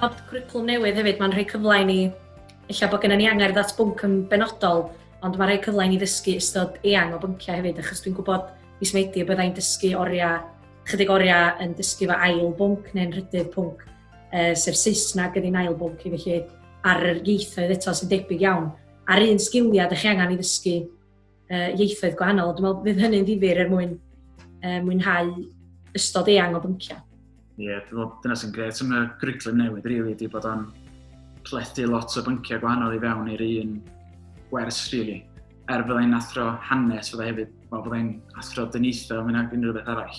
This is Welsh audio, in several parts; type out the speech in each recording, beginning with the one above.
Nod cwricwlwm newydd hefyd, mae'n rhoi cyfle i ni, ella bod gennym ni angerdd at bwnc yn benodol, ond mae'n rhoi cyfle i ni ddysgu ystod eang o bynciau hefyd, achos dwi'n gwybod mis Medi y byddai'n dysgu oriau, chydig oriau yn dysgu fy ail bwnc neu'n rhydydd pwnc, uh, sef Saesneg yn ein ail bwnc i, felly ar yr ieithoedd eto sy'n debyg iawn, a'r un sgiliau ydych chi angen i ddysgu uh, ieithoedd gwahanol. Dwi'n meddwl bydd hynny'n ddifur er mwyn uh, mwynhau ystod eang o bynciau. Ie, yeah, dwi'n meddwl dyna sy'n gret am y gwriclum newydd, rili, really, di bod o'n plethu lot o bynciau gwahanol i fewn i'r un gwers, rili. Really. Er byddai'n athro hanes, fyddai hefyd, wel, fyddai'n athro dyniaethol, mynd ag unrhyw beth arall.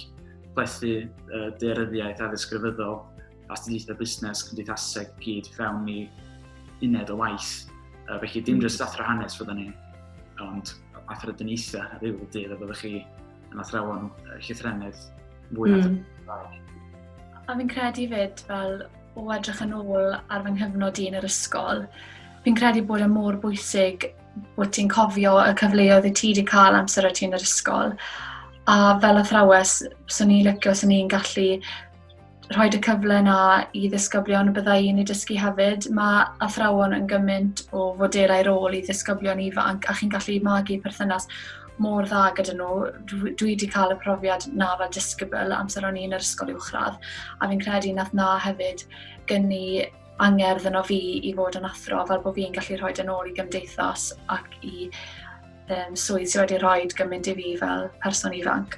Plethu uh, dearyddiaeth a ddisgrifyddol, astudiaethau busnes, cymdeithaseg i gyd fewn i uned o waith. Uh, felly dim jyst athro hanes fydda ni, ond athro dyniaethau a ddiw y dydd a byddwch chi yn athrawon llythrennydd mwy na mm. A fi'n credu fyd fel o edrych yn ôl ar fy nghyfnod i yn yr ysgol, fi'n credu bod e mor bwysig bod ti'n cofio y cyfleoedd y ti wedi cael amser o ti yn yr ysgol. A fel athrawes, swn i'n licio, swn i'n gallu rhoi y cyfle na i ddisgyblion y byddai yn ei dysgu hefyd. Mae athrawon yn gymaint o foderau rôl i ddisgyblion ifanc a chi'n gallu magu perthynas mor dda gyda nhw. Dwi wedi cael y profiad na fel disgybl amser o'n i'n yr ysgol uwchradd a fi'n credu nath na hefyd gynnu angerdd yno fi i fod yn athro fel bod fi'n gallu rhoi yn ôl i gymdeithas ac i um, swydd sydd wedi rhoi gymaint i fi fel person ifanc.